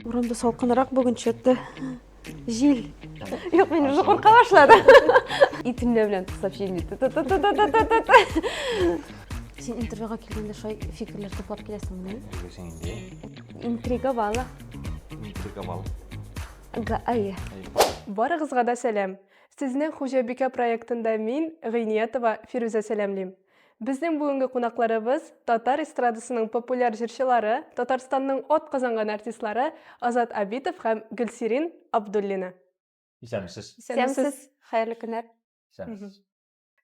Урамда салкынрак бүген чөтте. Җил. Юк, мин уже курка башлады. Итемнәр белән туктап җилне. Син интервьюга килгәндә шулай фикерләр туплап киләсеңме? Белгесең инде. Интрига бала. Интрига бала. Га, ай. Барыгызга да сәлам. Сезне Хуҗабикә проектында мин, Гыйниятова Фирүзә сәламлим. Безнең бүгенге кунакларыбыз татар эстрадасының популяр җырчылары, Татарстанның от казанган артистлары Азат Абитов һәм Гөлсирин Абдуллина. Исәнмесез. Исәнмесез. Хәерле көннәр. Исәнмесез.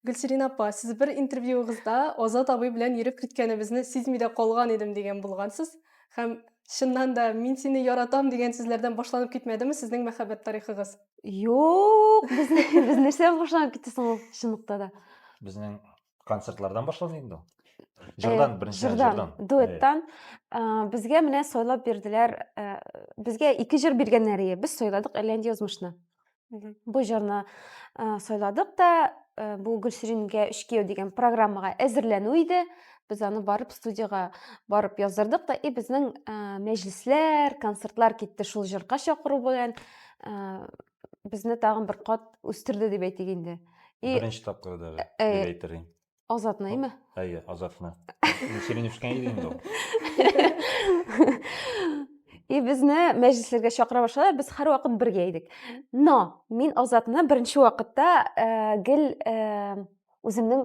Гөлсирин апа, сез бер интервьюыгызда Азат абый белән йөреп киткәнебезне сизми дә калган идем дигән булгансыз. Һәм чыннан да мин сине яратам дигән сүзләрдән башланып китмәдеме сезнең мәхәббәт тарихыгыз? Юк, без без нәрсәдән башланып китте соң ул чынлыкта да? Безнең концертлардан башлана инде ул. Җырдан, Э, беренче җырдан, җырдан. Э, дуэттан Э, безгә менә сайлап бирделәр э, безгә ике җыр биргәннәр ие без сайладык әрләнде язмышны Мгм. бу җырны э, сайладык та э, бу гөлсирингә өч кияү дигән программага әзерләнү иде без аны барып студияга барып яздырдык та и безнең э, мәҗлесләр концертлар китте шул җырга чакыру белән ә, безне тагын бер кат үстерде дип әйтик инде. И... Беренче тапкыр да ә, ә, дип әйтер инде. Азатны, әйме? Әйе, азатны. Сирин үскән иде инде ул. И безне мәҗлесләргә чакыра башладылар, без һәр вакыт бергә идек. Но мин Азатны беренче вакытта э, гел э, үземнең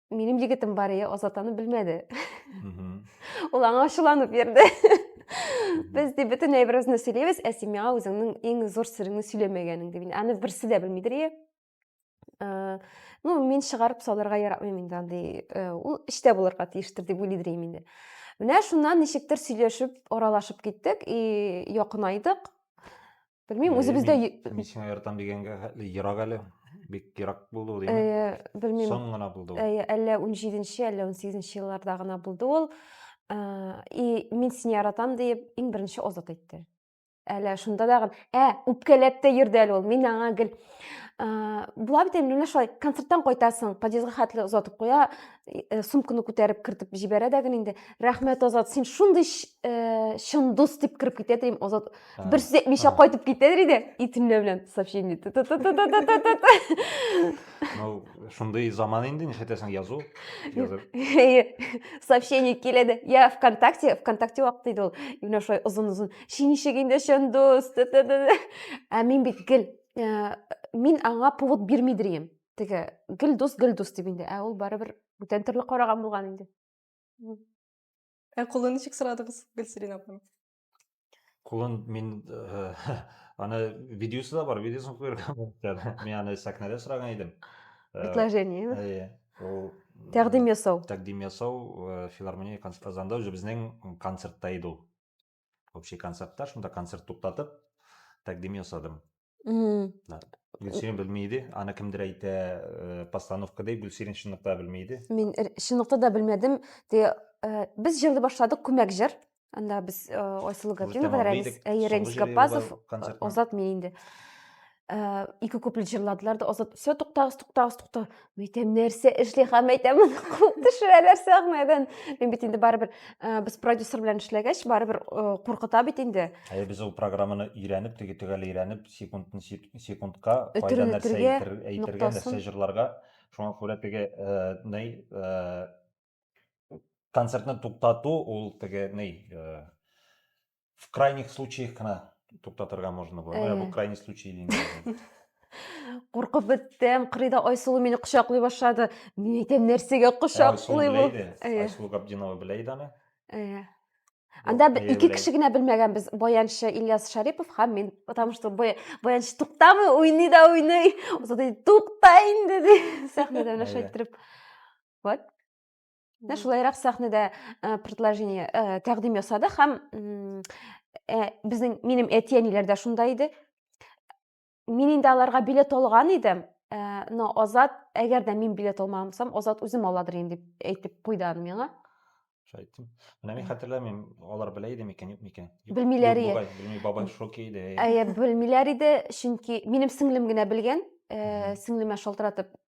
минем егетем бар иә азат аны белмәде ул аңа ачуланып йөрде без де бөтен әйберебезне сөйләйбез ә син миңа үзеңнең иң зур сереңне сөйләмәгәнеңде мин аны берсе дә белмидер иә э, ну мин чыгарып салырга яратмыйм инде андый э, ул эчтә булырга тиештер дип уйлыйдыр идем инде менә шуннан ничектер сөйләшеп аралашып киттек и якынайдык Белмим, үзебездә Мин сиңа яратам дигәнгә ерак әле. Бик ерак булды ул, димәк. Белмим. Соң гына булды ул. Әллә 17-нче, әллә 18-нче елларда гына булды ул. И мин сине яратам диеп иң беренче Азат әйтте. Әле шунда да ә үпкәләп тә йөрде әле ул. Мин аңа гел була бит инде менә шулай концерттан кайтасың, подъездга хәтле озатып куя, э, сумканы күтәреп кертеп җибәрә дә гел инде. Рәхмәт, Азат, син шундый чын дус дип кереп китә, дим, Азат бир сүз әйтмичә кайтып китәдер иде итемле белән сообщение ну шундый заман инде нишләтәсең язу сообщение килә дә я вконтакте вконтакте вакыты иде ул именно шулай озын озын шинишек инде чондус ә мин бит гел мин аңа повод бирмидер идем теге гел дус гел дус дип инде ә ул барыбер бүтән төрле караган булган инде ә кулы ничек сорадыгыз гөлсирин апаны Кулын мин э, аны видеосы да бар, видеосын куярга мөмкин. Мин аны сәхнәдә сораган идем. Э, Предложение. Э, әйе. Ул тәкъдим ясау. Тәкъдим ясау филармония концерт Казанда уже безнең концертта иде ул. Общий концертта шунда концерт туктатып тәкъдим ясадым. гөлсирин белми иде аны кемдер әйтә э, постановка ди гөлсирин чынлыкта белми иде мин чынлыкта да белмәдем ди э, без җырды башлады күмәк җыр анда без э, айсылу гаврилова рәмис гаппазов озатмый инде ике куплет җырладылар да озат все туктагыз туктагыз туктагыз мәйтәм нәрсә эшли һәм мәйтәм аны куып төшерәләр сәхнәдән мин бит инде барыбер ә, без продюсер белән эшләгәч барыбер ә, куркыта бит инде Ә без ул программаны өйрәнеп, теге төгәл өйрәнеп, секундтан секундка кайда нәрсә әйтергә, нәрсә җырларга. Шуңа күрә теге, э, ней, э, концертны туктату ул теге ни э, в крайних случаях кына туктатырга можно было ә, бу крайний случай дим куркып беттем кырыйда айсылу мине кочаклый башлады мин әйтәм нәрсәгә кочаклый бу айсылу габдинова белә иде аны э. анда ике кеше генә белмәгәнбез баянчы ильяс шарипов һәм мин потому что баянчы туктамый уйный да уйный тукта инде ди сәхнәдә менә шайтырып вот менә шулайрак сәхнәдә э, предложение э, тәкъдим ясады һәм э, безнең минем әти әниләр дә шунда иде мин инде аларга билет алган идем но азат әгәр дә мин билет алмасам азат үзем аладыр инде дип әйтеп куйды аны миңа шайтим менә мин хәтерләмим алар белә иде микән юк микән белмиләр иде белми бабай шок иде әйе белмиләр иде чөнки минем сеңлем генә белгән сеңлемә шалтыратып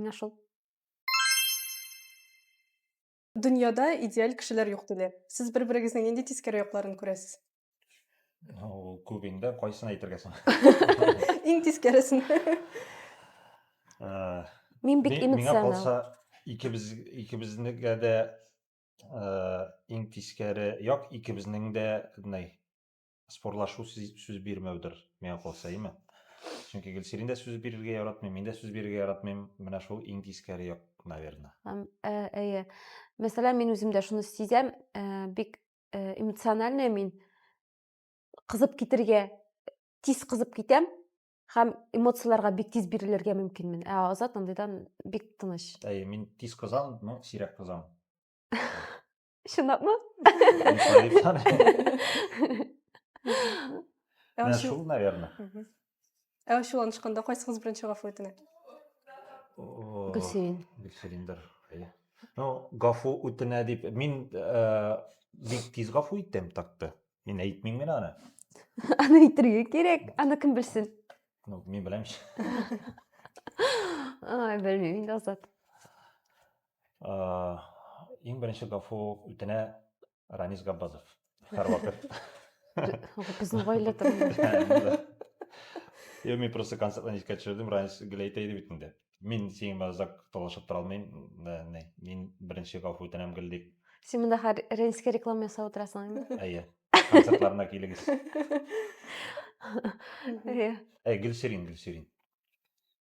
Менә шул. Дөньяда идеаль кешеләр юк диләр. Сез бер-берегезнең нинди тискәре якларын күрәсез? Ул күп инде, кайсын әйтергә соң? Иң тискәресен. Э, Мин бик эмоционал. Миңа калса, икебез икебезнегә дә э, иң тискәре як икебезнең дә, спорлашу сүз бирмәүдер, миңа калса, име? Чөнки Гөлсирин дә сүз бирергә яратмый, мин дә сүз бирергә яратмыйм. Менә шул иң тискәре як, наверное. Әйе. Мәсәлән, мин үзем дә шуны сизәм, бик эмоциональный мин. Кызып китергә, тиз кызып китәм һәм эмоцияләргә бик тиз бирелергә мөмкинмен. Ә Азат андыйдан бик тыныч. Әйе, мин тиз кызам, но сирәк кызам. Чынлап мы? Ә шул, наверное. Ә шул анышканда кайсыгыз беренче гафу үтенә? Гөлсирин. Гөлсириндер. Ну, гафу үтенә дип мин э, бик тиз гафу иттем такты. Мин әйтмим генә аны. Аны әйтергә кирәк. Аны кем белсен? Ну, мин беләм. Ай, белмим инде Азат. Иң беренче гафу үтенә Ранис Габбазов. Һәрвакыт. Безнең гаилә турында. Я мин просто концертларны искә төшердем, Ранис гел әйтә иде бит инде. Мин синең белән озак талашып тора алмыйм. Мин беренче гафу үтенәм гел дип. Син монда хәр Ренскә реклама ясап утырасың инде. Әйе. Концертларына килегез. Әйе. Әй, Гөлсирин, Гөлсирин.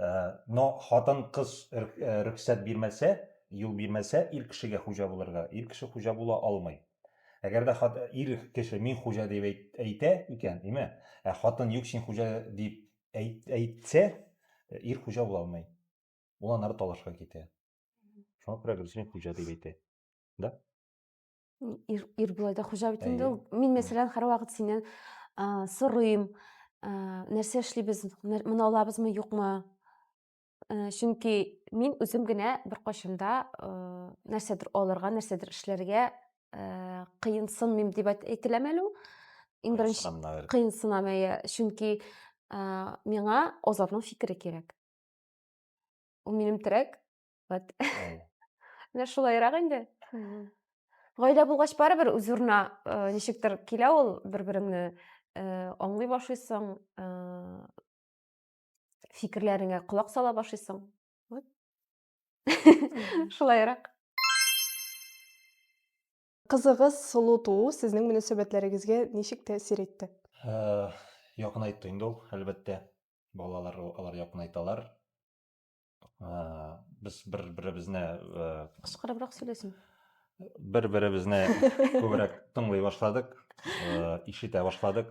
Э, но хатын кыз э, рөхсәт бирмәсә юл бирмәсә ир кешегә хуҗа булырга ир кеше хуҗа була алмый әгәр дә ир кеше мин хуҗа дип әйтә икән димә ә хатын юк син хуҗа дип әйтсә э, ир хуҗа була алмый ул аннары талашка китә шуңа күрә гөлсин хуҗа дип әйтә да ир, ир былай да хуҗа бит инде ул мин мәсәлән һәрвакыт синнән сорыйм нәрсә эшлибез моны алабызмы юкмы чөнки мин үзем генә беркайчанда нәрсәдер алырга нәрсәдер эшләргә кыенсынмыйм дип әйтеләме әле ул иң беренче кыенсынам әйе чөнки миңа азатның фикере кирәк ул минем терәк вот менә шулайрак инде гаилә булгач барыбер үз урынына э, ничектер килә ул бер береңне э, аңлый башлыйсың э, фикерләреңә колак сала башлыйсың вот шулайрак кызыгыз сылу туу сезнең мөнәсәбәтләрегезгә ничек тәэсир итте якынайтты инде ул әлбәттә балалар алар якынайталар без бер беребезне кычкырыбрак сөйләсен бер беребезне күбрәк тыңлый башладык ишетә башладык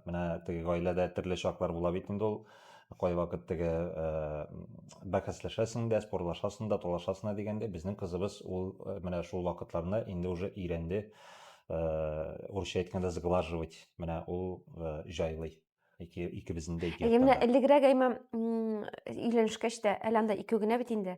менә теге гаиләдә төрле чаклар була бит инде ул кайвакыт теге бәхәсләшәсең дә спорлашасың да талашасың да дигәндә безнең кызыбыз ул менә шул вакытларны инде уже өйрәнде урысча әйткәндә сглаживать менә ул җайлый ике икебезнең дә ике яктан. Менә элегрәк әйма өйләнешкәч тә әле анда ике генә бит инде.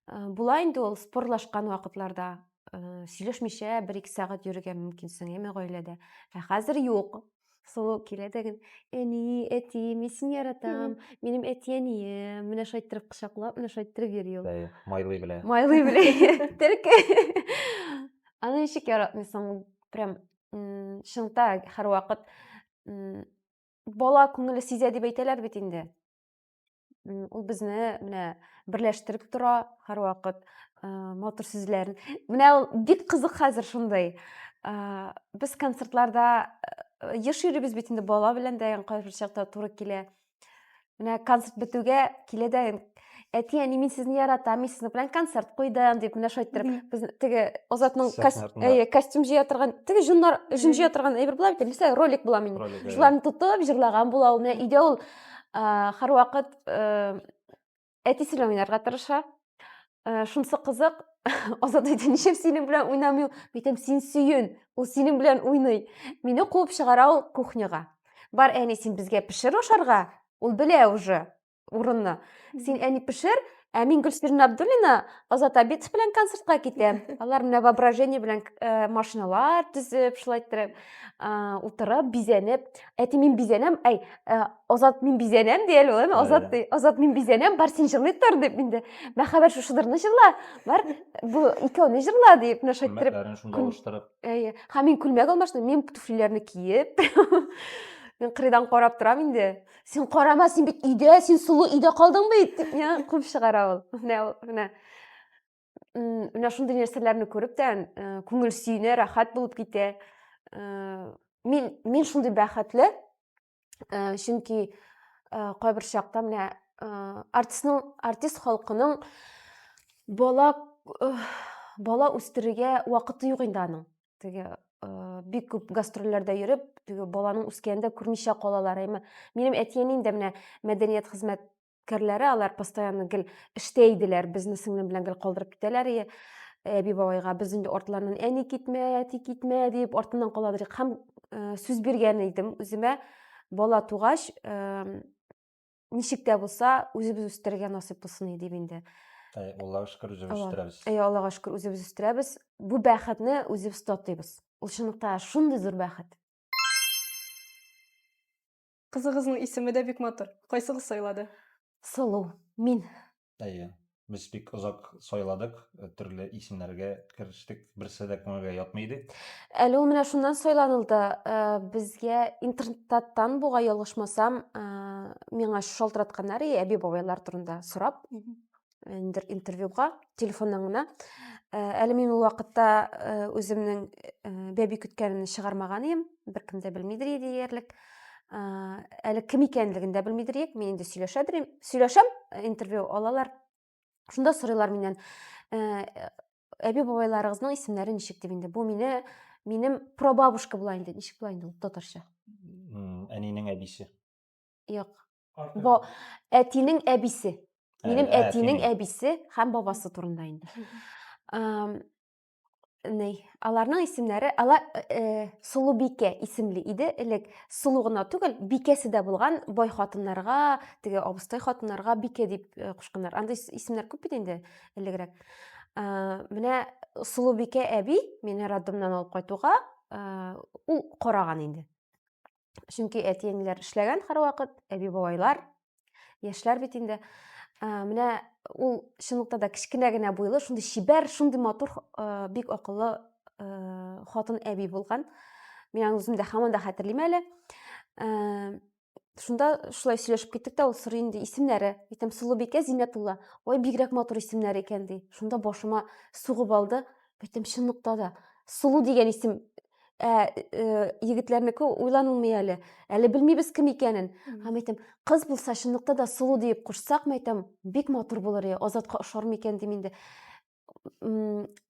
Э, була инде ул спорлашкан вакытларда э, сөйләшмичә бер ике сәгать йөрергә мөмкинсең әйме гаиләдә. Ә хәзер юк. Сылу килә дә гел, әни, әти, мин сине яратам, минем әти әнием, менә шайтырып кочаклап, менә шайтырып йөри ул. Майлый белә. Майлый белә. Терке. Аны ничек яратмыйсың? Прям шыңта һәрвакыт бала күңеле сизә дип әйтәләр бит инде ул безне менә берләштереп тора һәрвакыт матур сүзләрен менә ул бик кызык хәзер шундый без концертларда еш йөрибез бит инде бала белән дә кайбер чакта туры килә менә концерт бетүгә килә дә әти әни мин сезне яратам мин сезнең белән концерт куйдым дип менә шулай иттереп без теге озатның әйе костюм җыя торган теге җоннар җон җыя торган әйбер була бит мисал ролик була мин шуларны тотып җырлаган була ул менә өйдә ул һәрвакыт әтисенә уйнарга тырыша э, шунысы кызык азат әйтә нишләп синең белән уйнамый ул әйтәм син сөен ул синең белән уйный мине куып чыгара ул кухняга бар әни син безгә пешер ашарга ул белә уже урынны син әни пешер ә мин гөлсирина абдуллина азат абитов белән концертка китәм алар менә воображение белән э, машиналар төзеп шулай иттереп э, утырып бизәнеп әти мин бизәнәм әй ә, азат мин бизәнәм ди әле ул азат ди азат мин бизәнәм бар син җырлый тор дип инде мәхәббәт шушыдырны җырла бар бу икәүне җырла дип менә шулай иттереп шунда алыштырып әйе һәм мин күлмәк алмаштым мин туфлиләрне киеп мен кырыйдан карап торам инде син карама син бит өйдә син сылу өйдә калдыңбы бит дип миңа куып чыгара ул менә ул менә менә шундый нәрсәләрне күреп тә күңел сөенә рәхәт булып китә мин мин шундый бәхетле чөнки кайбер чакта менә артистның артист халкының бала бала үстерергә вакыты юк инде аның теге бик күп гастрольләрдә йөреп теге баланың үскәнен дә күрмичә калалар әмма минем әти әнием дә менә мәдәният хезмәт керләре алар постоянно гел эштә иделәр безне сеңлем белән гел калдырып китәләр и әби бабайга без инде артларыннан әни китмә әти китмә дип артыннан каладыр һәм э, сүз биргән идем үземә бала тугач э, ничек тә булса үзебез үстерергә насыйп булсын и дип инде Әй, аллага шөкер үзебез үстерәбез әй аллага шөкер үзебез үстерәбез бу бәхетне үзебез татыйбыз ул чынлыкта шундый зур бәхет Кызыгызның исеме дә бик матур. Кайсыгыз сайлады? Сылу. Мин. Әйе. Без бик озак сайладык, төрле исемнәргә керештек, берсе дә күңелгә ятмый иде. Әле ул менә шуннан сайланылды. Безгә интернеттан буга ялгышмасам, миңа шалтыратканнар и әби-бабайлар турында сорап. ниндидер интервьюга телефоннан гына әле мин ул вакытта үземнең бәби көткәнемне чыгармаган идем беркем дә белмидер иде диярлек әле кем икәнлеген дә белмидер идек мин инде сөйләшә белим сөйләшәм интервью алалар шунда сорыйлар миннән әби бабайларыгызның исемнәре ничек дип инде бу мине минем прабабушка була инде ничек була инде ул татарча әнинең әбисе юк Бо әтинең әбисе. Минем ә, әтинең әбисе һәм бабасы турында инде. Ней, аларның исемнәре, ала э, Сулубикә исемле иде элек. Сулу гына түгел, бикәсе дә булган бай хатыннарга, теге абыстай хатыннарга бикә дип э, кушканнар. Андый исемнәр күп бит инде элегрәк. Э, менә Сулубикә әби мине роддомнан алып кайтуга, э, ул караган инде. чөнки әти-әниләр эшләгән һәрвакыт, әби-бабайлар, яшьләр бит инде. Ә, менә ул чынлыкта да кечкенә генә буйлы, шундый чибәр, шундый матур, ә, бик акыллы ә, хатын әби булган. Мин аны үзем дә һаман да хәтерлим әле. Ә, шунда шулай сөйләшеп киттек тә, ул сорый инде исемнәре. Әйтәм, Сылубикә Зиннәтулла. Ой, бигрәк матур исемнәр икән, ди. Шунда башыма сугып алды. Әйтәм, чынлыкта да, Сылу дигән исем ә э, егетләрнеке уйланылмый әле әле белмибез кем икәнен һәм әйтәм кыз булса чынлыкта да сылу диеп кушсак мәйтәм бик матур булыр е азатка ошар микән дим инде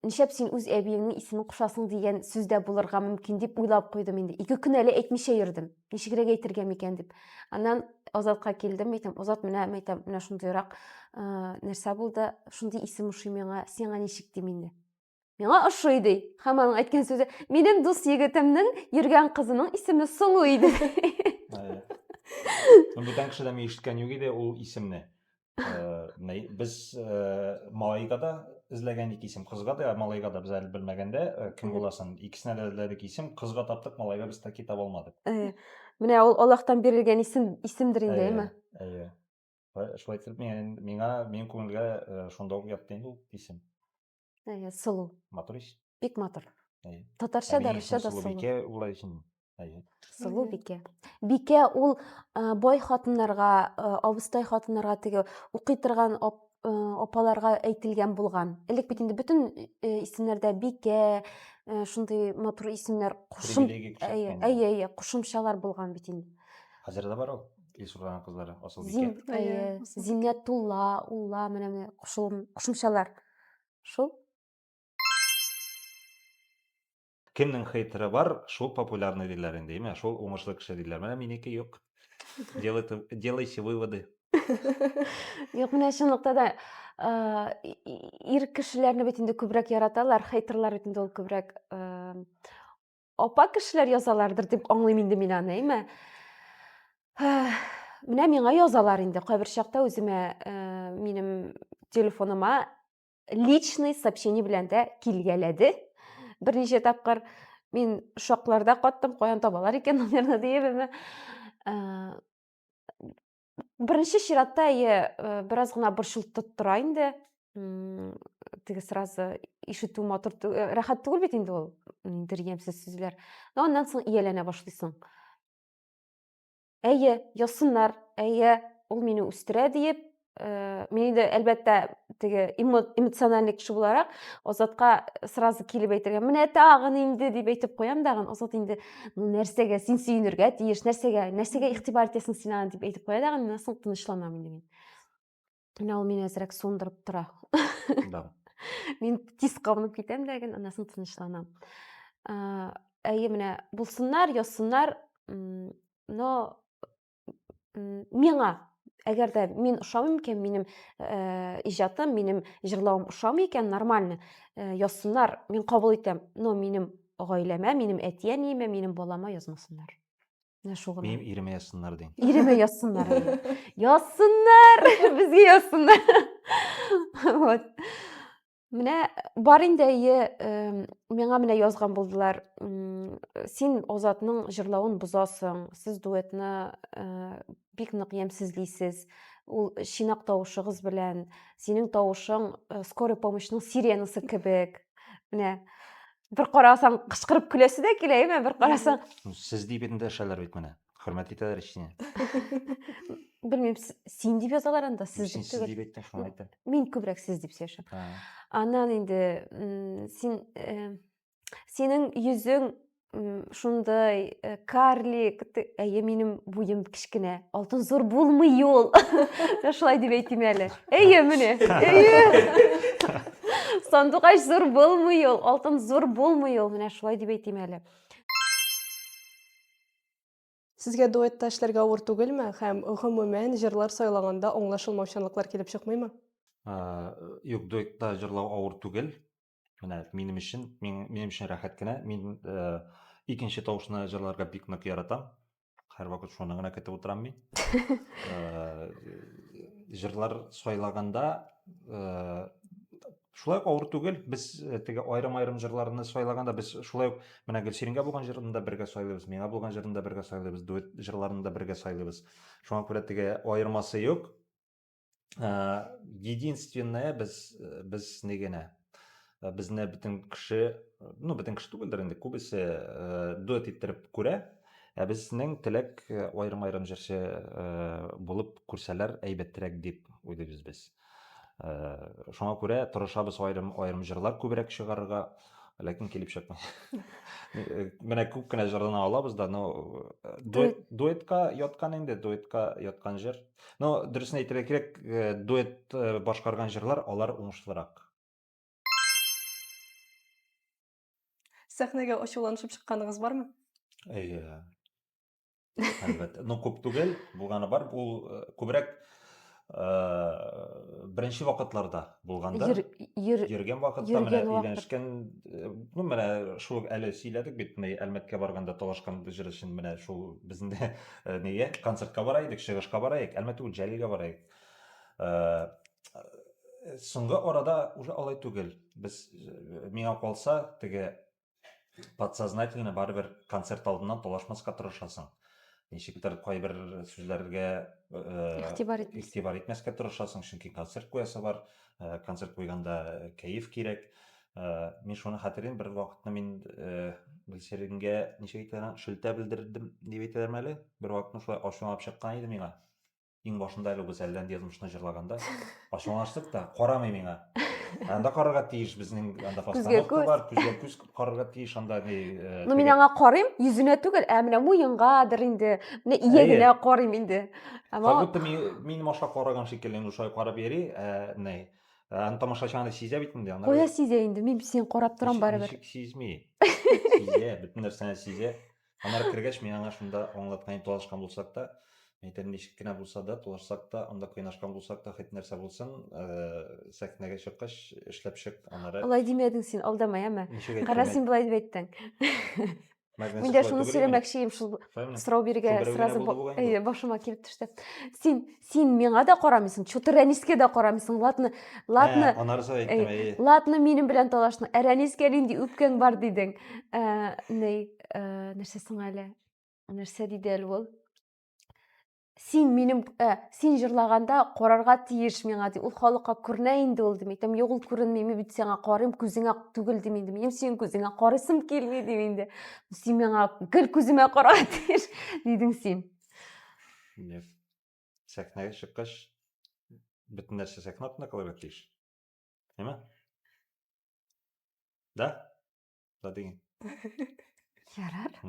нишәп син үз әбиеңнең исемен кушасың дигән сүз дә булырга мөмкин дип уйлап куйдым инде ике көн әле әйтмичә йөрдем ничегрәк әйтергә микән дип аннан азатка килдем әйтәм азат менә мәйтәм менә шундыйрак нәрсә булды шундый исем ошый миңа сиңа ничек дим инде Миңа ошый ди. Һәм аның әйткән сүзе, минем дус егетемнең йөргән кызының исеме Сылу иде. Бүтән кешедән ишеткән юк иде ул исемне. Э, без э, малайга да эзләгән ике исем, кызга да, малайга да без әле белмәгәндә э, кем буласын. Икесенә дә эзләдек исем, кызга таптык, малайга без таки таба алмадык. Менә ул Аллаһтан бирелгән исем исемдер инде, әйме? Әйе. Шулай итеп, миңа, минем күңелгә шунда ук ятты инде ул исем. әйе сылу матур ич бик матур әйе татарча да русча да сылубикә була икән әйе сылубикә бикә ул бай хатыннарга абыстай хатыннарга теге укый торган апаларга әйтелгән булган элек бит инде бөтен исемнәрдә бикә шундый матур исемнәр кушым әйе әйе кушымчалар булган бит инде хәзер дә бар ул Ил сурлаган кызлары Асылбикә. Зиннәтулла, Улла менә менә кушымчалар. Шул. Кемнең хейтеры бар, шул популярный диләр инде, имя, шул уңышлы кеше диләр. Менә минеке юк. Делайте, делайте выводы. Юк, менә чынлыкта да ир кешеләрне бит инде күбрәк яраталар, хейтерлар бит инде ул күбрәк Апа кешеләр язалардыр дип аңлыйм инде мин аны, әйме? Менә миңа язалар инде. Кайбер чакта үземә э, минем телефоныма личный сообщение белән дә килгәләде. Берничә тапкыр мин шокларда каттым, каян табалар икән номерны диеп, әйме? Э, беренче чиратта әйе э, бераз гына борчылтып тора инде теге сразу ишетү матур э, рәхәт түгел бит инде ул ниндидер ямьсез сүзләр но аннан соң ияләнә башлыйсың әйе язсыннар әйе ул мине үстерә диеп э, мин инде әлбәттә теге эмоциональный кеше буларак азатка сразу килеп әйтергә менә тагын инде дип әйтеп куям дагын азат инде ну нәрсәгә син сөенергә тиеш нәрсәгә нәрсәгә игътибар итәсең син аны дип әйтеп куя дагы мин соң тынычланамын деген менә ул мине әзрәк суындырып тора да мин тиз кабынып китәм дә генә аннан соң тынычланам әйе менә булсыннар язсыннар но миңа әгәр дә мин ошамыйм икән минем ә, иҗатым минем җырлавым ошамый икән нормально ә, язсыннар мин кабул итәм но минем гаиләмә минем әти әниемә минем балама язмасыннар менә шул гына минем иремә язсыннар дим иремә язсыннар язсыннар безгә язсыннар вот Менә бар инде әйе, миңа менә язган булдылар. Син Азатның җырлавын бозасың. Сез дуэтны бик нык ямьсезлисез. Ул чинак тавышыгыз белән, синең тавышың скорый помощьның сиренасы кебек. Менә бер карасаң кычкырып көләсе дә килә, әйме, бер карасаң. Сез дип инде дәшәләр бит менә. Хөрмәт итәләр ич сине. Белмим, син дип язалар анда, сез дип түгел. Син дип әйттең, шуңа әйттем. Мин күбрәк сез дип сөйләшәм. Аннан инде син синең йөзең шундай э, карлик әйе минем буем кечкенә алтын зур булмый ул шулай дип әйтим әле әйе менә әйе сандугач зур булмый ул алтын зур булмый ул менә шулай дип әйтим әле Сезгә дуэтта эшләргә авыр түгелме һәм, гомумән, җырлар сайлаганда аңлашылмаучанлыклар килеп чыкмыймы? Юк, дуэтта җырлау авыр түгел. Менә минем өчен, минем өчен рәхәт кенә. Мин икенче тавышны җырларга бик нык яратам. Һәрвакыт шуны гына көтеп утырам мин. Җырлар сайлаганда Шулай ук авыр түгел, без э, теге аерым-аерым җырларны сайлаганда без шулай ук менә Гөлсирингә булган җырын да бергә сайлыйбыз, миңа булган җырын да бергә сайлыйбыз, дуэт җырларын да бергә сайлыйбыз. Шуңа күрә теге аермасы юк. Э, единственное без э, без не генә безне бөтен кеше, ну бөтен кеше түгелдер инде, күбесе дуэт иттереп күрә. Ә безнең теләк аерым-аерым җырчы булып күрсәләр әйбәтрәк дип уйлыйбыз без. Ә, шуңа күрә тырышабыз аерым аерым җырлар күбрәк чыгарырга, ләкин килеп чыкмый. Менә күп кенә җырлана алабыз да, но э, дуэт, дуэтка яткан инде, дуэтка яткан җыр. Но дөресен әйтергә кирәк, э, дуэт э, башкарган җырлар алар уңышлырак. Сәхнәгә ачуланышып чыкканыгыз бармы? Әйе. Әлбәттә. Ну, күп түгел, булганы бар. Бу э, күбрәк э, беренче вакытларда булганда, Йөр, йөр, йөргән вакытта менә йөргән вакыт. өйләнешкән, э, ну, менә шул әле сөйләдек бит, менә Әлмәткә барганда талашкан җыр өчен менә шул безнең дә э, нигә концертка бара идек, чыгышка бара идек, әлмәт түгел, Җәлилгә бара идек. Э, Соңгы арада уже алай түгел. Без э, миңа калса, теге подсознательно барыбер концерт алдыннан талашмаска тырышасың ничектер кайбер сүзләргә игътибар э, игътибар итмәскә тырышасың чөнки концерт куясы бар э, концерт куйганда э, кәеф кирәк мин шуны хәтерлим бер вакытны мин гөлсеренгә ничек әйтелгән шелтә белдердем дип әйтәләрме әле бер вакытны шулай ачуланып чыккан иде миңа Иң башында әле без әлләнди язмышны җырлаганда ачуланыштык да, карамый миңа. Анда карарга тиеш безнең анда постановка бар, күзгә күз карарга тиеш анда ни. Э, ну мин аңа карыйм, йөзенә түгел, ә менә муенгадыр инде, менә иягенә карыйм инде. Ама Как будто мин машка караган шикелле инде шулай карап йөри, ә ни. Аны тамашачы аны сизә бит инде. Кая сизә инде, мин сине карап торам барыбер. Сизми. Сизә, бөтен нәрсәне сизә. Анар кергәч, мин аңа шунда аңлаткан талашкан булсак та, әйтәм, ничек кенә булса да, талашсак та, анда кыйнашкан булсак та, хит нәрсә булсын, э, сәхнәгә чыккач, эшләп чык, анары. Алай димәдең син, алдама, яме. Кара, син болай дип әйттең. Мин дә шуны сөйләмәкче идем, шул сорау бирергә сразу башыма килеп төште. Син син миңа да карамыйсың чутыр рәнискә дә карамыйсың латны латны ә, анарсы әйттем әй латны минем белән талашны ә рәнискә нинди үпкәң бар дидең ә, ней ә, нәрсә соң әле нәрсә диде әле ул син минем ә, син җырлаганда карарга тиеш миңа ди ул халыкка күренә инде ул дим әйтәм юк ул күренми мин бит сиңа карыйм күзеңә түгел дим инде минем синең күзеңә карыйсым килми дим инде син миңа гел күземә карарга тиеш дидең син yes. сәхнәгә чыккач бөтен нәрсә сәхнә артында калырга тиеш әйме да да деген ярар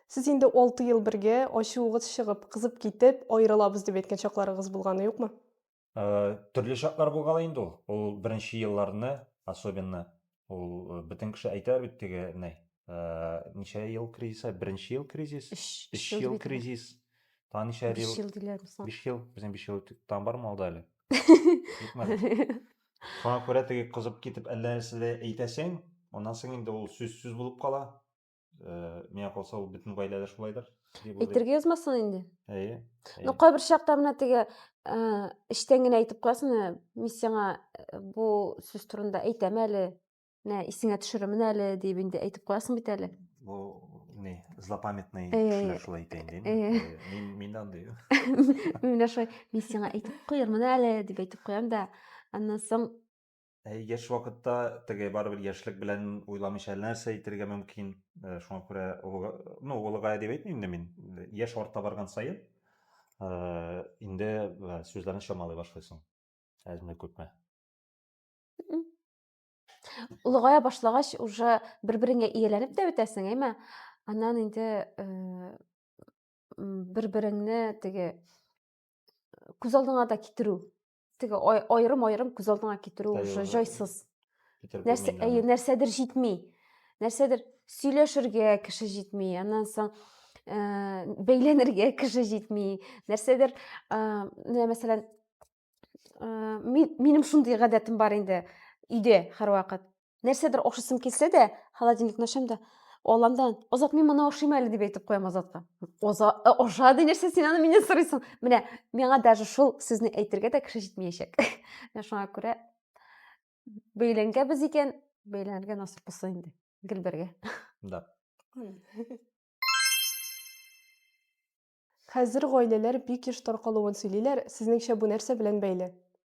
Сез инде 6 ел бергә, ачуыгыз чыгып, кызып китеп, аерылабыз дип әйткән чакларыгыз булганы юкмы? Төрле чаклар булган инде ул. Ул беренче елларны, особенно ул бөтен кеше әйтә бит теге нәй. Ничә ел кризис? Беренче ел кризис, өч ел кризис. Та ничә ел? Биш ел диләр соң. Биш ел, безнең биш ел там бармы алда әле? Шуңа күрә теге кызып китеп әллә нәрсә әйтәсең, аннан соң инде ул сүз сүз булып кала. ә, миңа калса ул бөтен гаиләдә шулайдыр дип уйлыйм әйтергә язмасын инде әйе ну кайбер чакта менә теге эчтән генә әйтеп куясың менә мин сиңа бу сүз турында әйтәм әле менә исеңә төшерермен әле дип инде әйтеп куясың бит әле бу не злопамятный кешеләр шулай әйтә инде мин мин дә андый мин менә шулай мин сиңа әйтеп куярмын әле дип әйтеп куям да аннан соң Ә яшь вакытта теге барыбер яшьлек белән уйламыйча нәрсә әйтергә мөмкин. Э, шуңа күрә олыга, ну, олыгая дип әйтмим инде мин. Яшь арта барган саен э, инде э, сүзләрне чамалый башлыйсың. Әзме күпме. Олыгая башлагач уже бер-береңә ияләнеп тә бетәсең, әйме? Аннан инде бер-береңне теге күз алдыңа да китерү теге аерым аерым күз алдыңа китерү уже җайсыз нәрсә әйе нәрсәдер җитми нәрсәдер сөйләшергә кеше җитми аннан соң ә, бәйләнергә кеше җитми нәрсәдер ә, менә мәсәлән ә, минем шундый гадәтем бар инде өйдә һәрвакыт нәрсәдер охшасым килсә дә холодильникны ачам да алламдан азат мин моны ашыйм әле дип әйтеп куям азатка аша ди нәрсә син аны миннән сорыйсың менә миңа даже шул сүзне әйтергә дә кеше җитмәячәк менә шуңа күрә бәйләнгәнбез икән бәйләнергә насыйп булса инде гел бергә да хәзер гаиләләр бик еш таркалуын сөйлиләр сезнеңчә бу нәрсә белән бәйле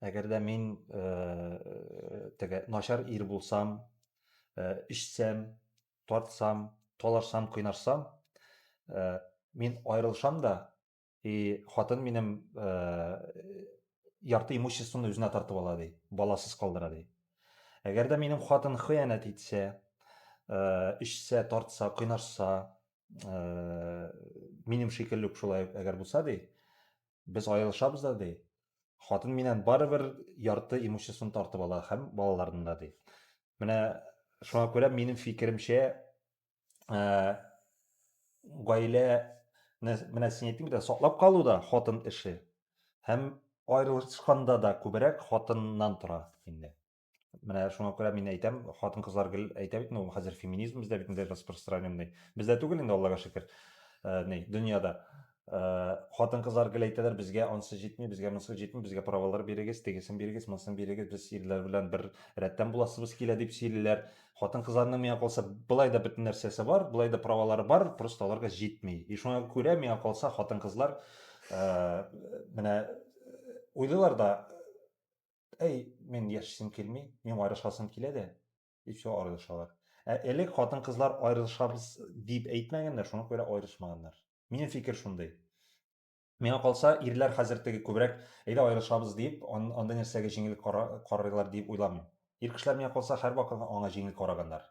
Әгәр дә мин теге начар ир булсам, эчсәм, тартсам, талашсам, кыйнашсам, мин аерылышам да, и хатын минем ярты имуществоны үзенә тартып ала ди, баласыз калдыра ди. Әгәр дә минем хатын хыянәт итсә, эчсә, тартса, кыйнашса, минем шикелле үк шулай әгәр булса ди, без аерылышабыз да, ди. Хатын миннән барыбер ярты имуществоны тартып ала һәм балаларны да, ди. Менә шуңа күрә минем фикеремчә, ә, гаилә менә син әйттең бит, саклап калу да хатын эше. Һәм аерылышканда да күбрәк хатыннан тора инде. Менә шуңа күрә мин әйтәм, хатын-кызлар гел әйтә бит, ну, хәзер феминизм бездә бит инде распространенный. Бездә түгел инде, Аллага шөкер. Э, ни, дөньяда. Э, хатын-кызлар гел әйтәләр, безгә ансы җитми, безгә монсы җитми, безгә правалар бирегез, тегесен бирегез, монысын бирегез, без ирләр белән бер рәттән буласыбыз килә дип сөйлиләр. Хатын-кызларның миңа калса, былай да бөтен нәрсәсе бар, былай да правалары бар, просто аларга җитми. И шуңа күрә миңа калса, хатын-кызлар э, менә э, уйлыйлар да, Әй, мин яшисем килми, мин аерылышасым килә дә, дип все аерылышалар. Ә элек хатын-кызлар аерылышабыз дип әйтмәгәннәр, шуңа күрә аерылышмаганнар. Минем фикер шундый. Миңа калса, ирләр хәзер теге күбрәк әйдә аерылышабыз дип, андый нәрсәгә җиңел карыйлар дип уйламыйм. Ир кешеләр миңа калса һәрвакыт аңа җиңел караганнар.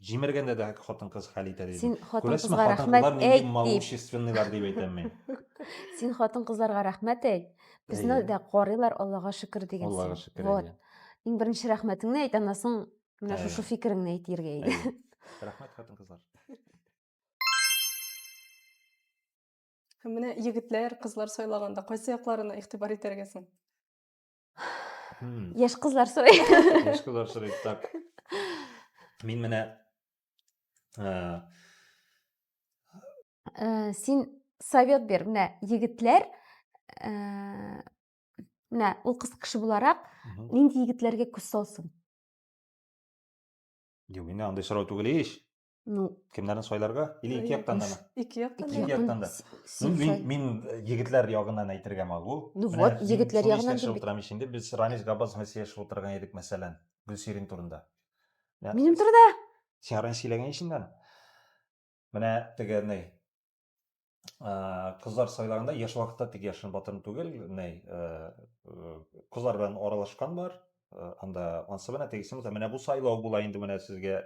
Җимергәндә дә хатын-кыз хәл итә дидем. Син хатын-кызга рәхмәт әйт дип. Малоущественныйлар дип әйтәм мин. Син хатын-кызларга рәхмәт әйт. Безне дә карыйлар, Аллага шөкер дигән син. Аллага шөкер. Вот. Иң беренче рәхмәтеңне әйт, аннан соң менә шушы фикереңне әйт иргә иде. Рәхмәт хатын-кызлар. Менә егетләр, кызлар сайлаганда кайсы якларына игътибар итәргә соң? Hmm. Яшь кызлар сорый. Яшь кызлар сорый. Так. Мин менә э, э, син совет бер. Менә егетләр э, менә ул кыз кеше буларак нинди егетләргә күз салсын? Юк, инде андый сорау түгел ич. Ну, кемнәрне сайларга или ике яктан да ике яктан ике яктан да ну, мин, мин э, егетләр ягыннан әйтергә магул ну вот егетләр ягыннан дип утырам ич инде без рамис габбас белән сөйләшеп утырган идек мәсәлән гөлсирин турында минем турыда син раньше сөйләгән ич инде менә теге кызлар сайлаганда яшь вакытта тик яшен батырын түгел ней кызлар белән аралашкан бар анда ансы менә тегесе мыта менә бу сайлау була инде менә сезгә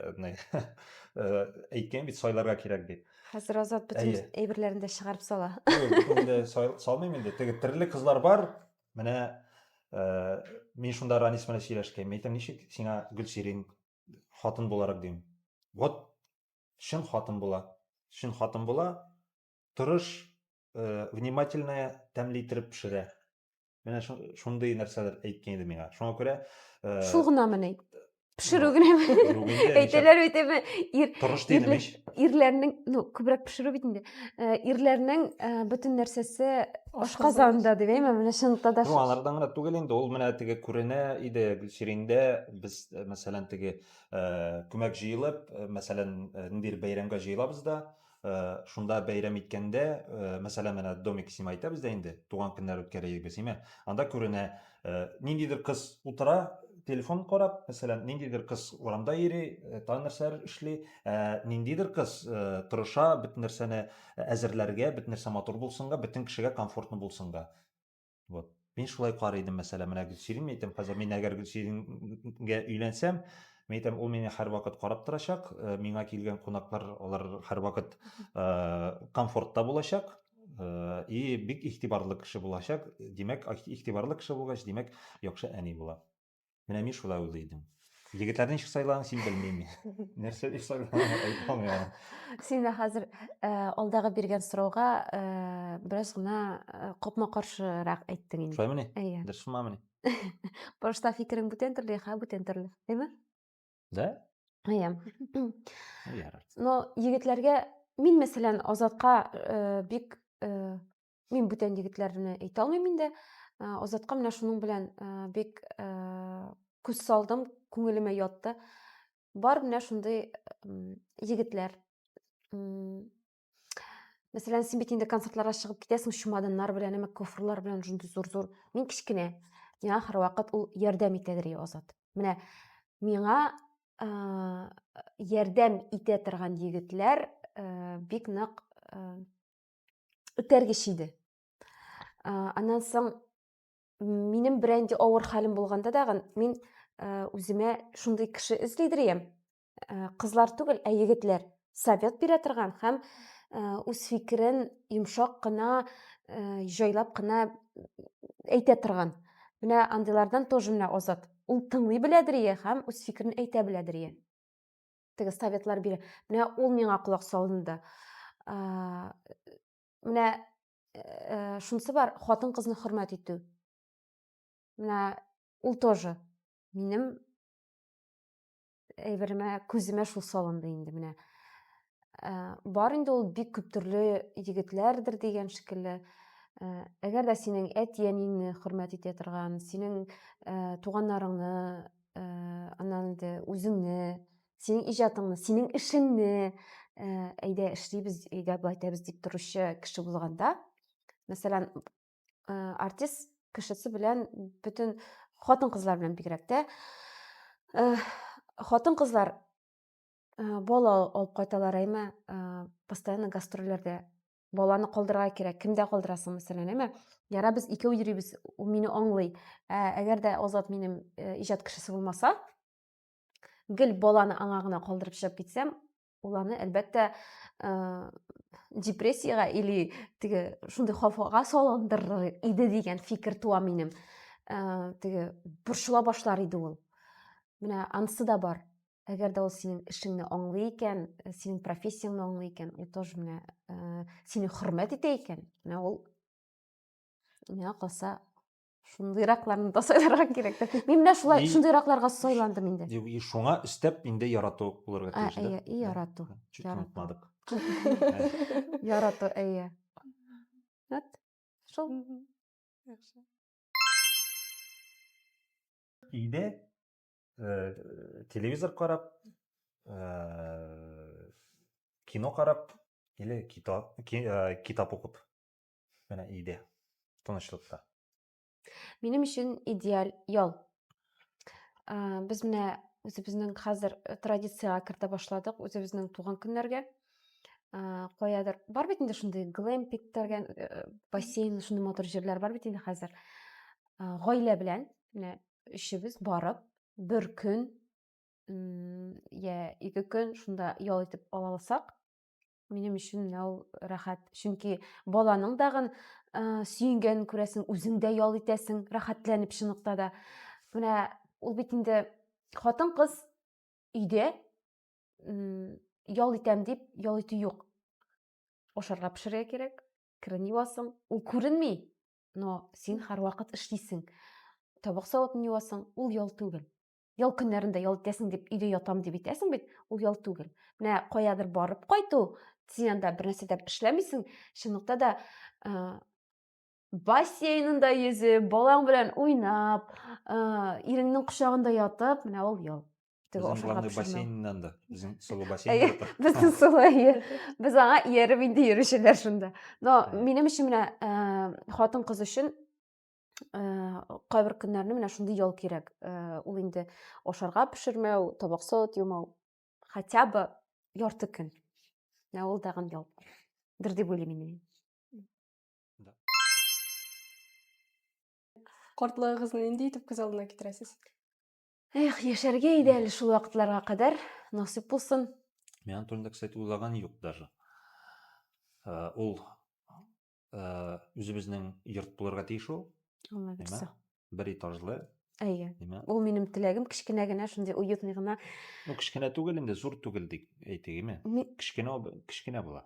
әйткән бит сайларга кирәк дип хәзер азат бөтен әйберләрен дә чыгарып сала инде салмыйм инде теге төрле кызлар бар менә мин шунда ранис белән сөйләшкән мин әйтәм ничек сиңа гөлсирин хатын буларак дим вот Чын хатын була. Чын хатын була. Тырыш, э, внимательная, тәмле иттереп пешерә. Менә шундый нәрсәләр әйткән иде миңа. Шуңа күрә э, Шул гынамыни? Пешерү генәме? Әйтәләр бит әмма ир Тырыш дидем ич. Ирләрнең, ну, күбрәк пешерү бит инде. Э, ирләрнең э, бөтен нәрсәсе ашказанда дип әйме, менә шунда да. Ну, алардан гына түгел инде, ул менә теге күренә иде Гөлсирендә, без, мәсәлән, теге Э, күмәк җыелып э, мәсәлән э, ниндидер бәйрәмгә җыелабыз да шунда бәйрәм иткәндә мәсәлән менә домик сима әйтәбез дә инде туган көннәр үткәрәйек без сима анда күренә ниндидер кыз утыра телефон карап мәсәлән ниндидер кыз урамда йөри тагын нәрсәләр эшли ниндидер кыз тырыша бөтен нәрсәне әзерләргә бөтен нәрсә матур булсынга бөтен кешегә комфортно булсынга Вот. Мин шулай карый идем, мәсәлән, менә Гөлсирин әйтәм, хәзер мин әгәр Гөлсирингә өйләнсәм, мин әйтәм, ул мине һәрвакыт карап торачак, э, миңа килгән кунаклар, алар һәрвакыт э, комфортта булачак, э, и бик игътибарлы кеше булачак. Димәк, игътибарлы кеше булгач, димәк, яхшы әни була. Менә мин шулай уйлый идем. Егетләрдән ничек сайланасың, син белмим. Нәрсә дип сайланасың, әйтмәм яна. Син дә хәзер э, алдагы биргән сорауга э, бераз гына э, копма каршырак әйттең инде. Шулаймыни? Әйе. Дөрес булмамыни? Башта фикерең бүтән төрле, хә бүтән төрле, әйме? Да? Әйе. Ярар. Но егетләргә мин мәсәлән Азатка э, бик э, Мин бүтән егетләрне әйтә алмыйм инде. Азатка менә шуның белән бик күз салдым, күңелемә ятты. Бар менә шундый егетләр. Мәсәлән, син бит инде концертларга чыгып китәсең чемоданнар белән, әмма кофрлар белән шундый зур-зур. Мин кечкенә. Миңа һәрвакыт ул ярдәм итә дери Азат. Менә миңа ярдәм итә торган егетләр бик нык үтәргеч иде аннан соң минем бренди авыр хәлем булганда дагы мин үземә шундый кеше эзлидер идем кызлар түгел ә егетләр совет бирә торган һәм үз фикерен йомшак кына җайлап кына әйтә торган менә андыйлардан тоже менә азат ул тыңлый беләдер һәм үз фикерен әйтә беләдер теге советлар бирә менә ул миңа колак салынды менә э, шунысы бар хатын кызны хөрмәт итү менә ул тоже минем әйберемә күземә шул салынды инде менә э, бар инде ул бик күп төрле егетләрдер дигән шикелле э, әгәр дә синең әти әниеңне хөрмәт итә торган синең туганнарыңны анан инде үзеңне синең ижатыңны синең эшеңне әйдә эшлибез әйдә былай итәбез дип торучы кеше булганда мәсәлән артист кешесе белән бөтен хатын кызлар белән бигрәк тә хатын кызлар бала алып кайталар әйме постоянно гастрольләрдә баланы калдырырга кирәк кемдә калдырасың мәсәлән әмма яра без икәү йөрибез ул мине аңлый ә әгәр дә азат минем э, иҗат кешесе булмаса гел баланы аңа гына калдырып чыгып китсәм ул аны әлбәттә э, депрессиягә или теге шундый хафага салындырыр иде дигән фикер туа минем э, теге борчыла башлар иде ул менә анысы да бар Әгәр дә ул синең эшеңне аңлый икән, э, синең профессияңне аңлый икән, и тоже менә э, сине хөрмәт итә икән, менә ул миңа калса шундыйракларны да сайларга кирәк. Мин менә шулай шундыйракларга сайландым инде. И шуңа өстәп инде ярату булырга тиеш да. Әйе, ярату. Чуть онытмадык. Ярату, әйе. Вот. Шул. Яхшы. Иде Э, телевизор карап э, кино карап или китап э, китап укып менә өйдә тынычлыкта минем өчен идеаль ял без менә үзебезнең хәзер традициягә кертә башладык үзебезнең туган көннәргә каядыр бар бит инде шундый глэмпик дигән бассейн шундый матур җирләр бар бит инде хәзер гаилә белән менә өчебез барып бер көн я ике көн шунда ял итеп ала алсак минем өчен менә ул рәхәт чөнки баланың дагын ә, сөенгәнен күрәсең үзең дә ял итәсең рәхәтләнеп чынлыкта да менә ул бит инде хатын кыз өйдә ял итәм дип ял итү юк ашарга пешерергә кирәк керен юасың ул күренми но син һәрвакыт эшлисең табак савытын юасың ул ял түгел ял көннәрендә ял итәсең дип өйдә ятам дип итәсең бит ул ял түгел менә каядыр барып кайту син анда бернәрсә дә эшләмисең чынлыкта да ә, бассейнында йөзеп балаң белән уйнап ә, иреңнең кочагында ятып менә ул ял Безнең главный бассейннан да. Безнең солы бассейн. Безнең солы, әйе. Без аңа ияреп инде йөрүчеләр шунда. Но минем өчен менә э, хатын кыз өчен э, кайбер көннәрне менә шундый ял кирәк. Э, ул инде ашарга пешермәү, табак сот юмау. Хотя бы ярты көн. Менә ул тагын ял. Дер дип уйлыйм мин. Картлыгыгызны нинди итеп күз алдына китерәсез? Эх, яшәргә иде әле шул вакытларга кадәр, насыйп булсын. Мин аның турында, кстати, уйлаган юк даже. Э, ул э, үзебезнең йорт булырга тиеш ул. Молодец. Бер этажлы. Әйе. Ул минем теләгем кечкенә генә шундый уютный гына. Ну, кечкенә түгел инде, зур түгел дип әйтик, име? Кечкенә, кечкенә була.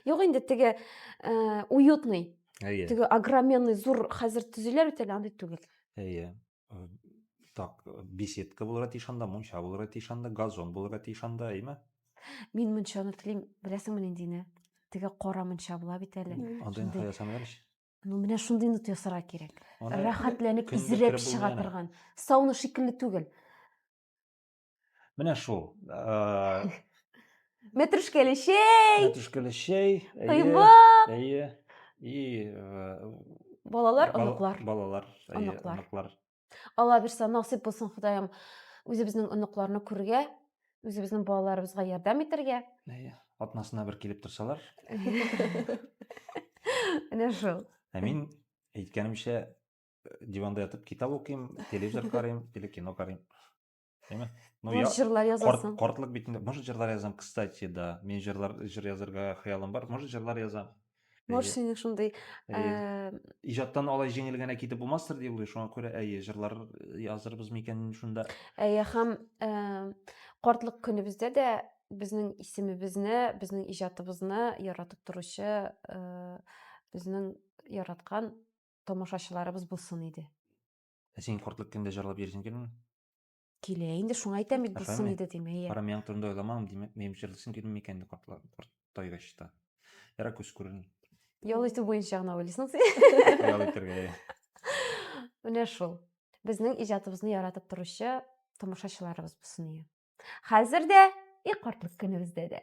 Юк инде теге э, уютный. Әйе. Теге огроменный зур хәзер төзиләр бит әле андый түгел. Әйе. Э, так, беседка булырга тиеш анда, мунча булырга тиеш анда, газон булырга тиеш анда, әйме? Мин мунчаны телим, беләсеңме нинди не? Теге кара мунча була бит әле. Анда инде ясамыйлар ич. Ну, менә шундый нут ясарга кирәк. Аны Рәхәтләнеп көн изрәп чыга торган. Сауна шикелле түгел. Менә шул. Мәтрүшкәле чәй. Мәтрүшкәле чәй. Кыймак. Әйе. И балалар, оныклар. Балалар, оныклар. Оныклар. Алла бирса насыйп булсын Худайым үзебезнең оныкларны күрергә, үзебезнең балаларыбызга ярдәм итәргә. Әйе. Атнасына бер килеп торсалар. Менә шул. Ә мин әйткәнемчә диванда ятып китап укыйм, телевизор карыйм или кино карыйм. Әйме? Ну, Может, я жырлар корт, язасың? кортлык битендә, может, жырлар язам, кстати, да. Мин жырлар, жыр язырга хыялым бар, может, жырлар язам. Может, Әйе. синең шундый Әйе. э, Иҗаттан алай җиңел генә китеп булмастыр дип уйлый, шуңа күрә, әйе, жырлар язырбыз микән шунда. әйе һәм э, картлык көнебездә дә безнең исемебезне, безнең иҗатыбызны яратып торучы э, безнең яраткан тамашачыларыбыз булсын иде. Ә син кортлык кемдә җырлап йөрисең килмени? Килә инде, шуңа әйтәм бит, булсын Әфәме? иде дим, әйе. Карамыяң турында уйламам, димәк, минем җырлыйсым килми икән инде кортлар, корт тайгач та. Ярар күз күрен. Ял итү буенча гына уйлыйсың син. Ял итәргә. иә. Менә шул. Безнең иҗатыбызны яратып торучы тамашачыларыбыз булсын иде. Хәзер дә и кортлык көнебездә дә.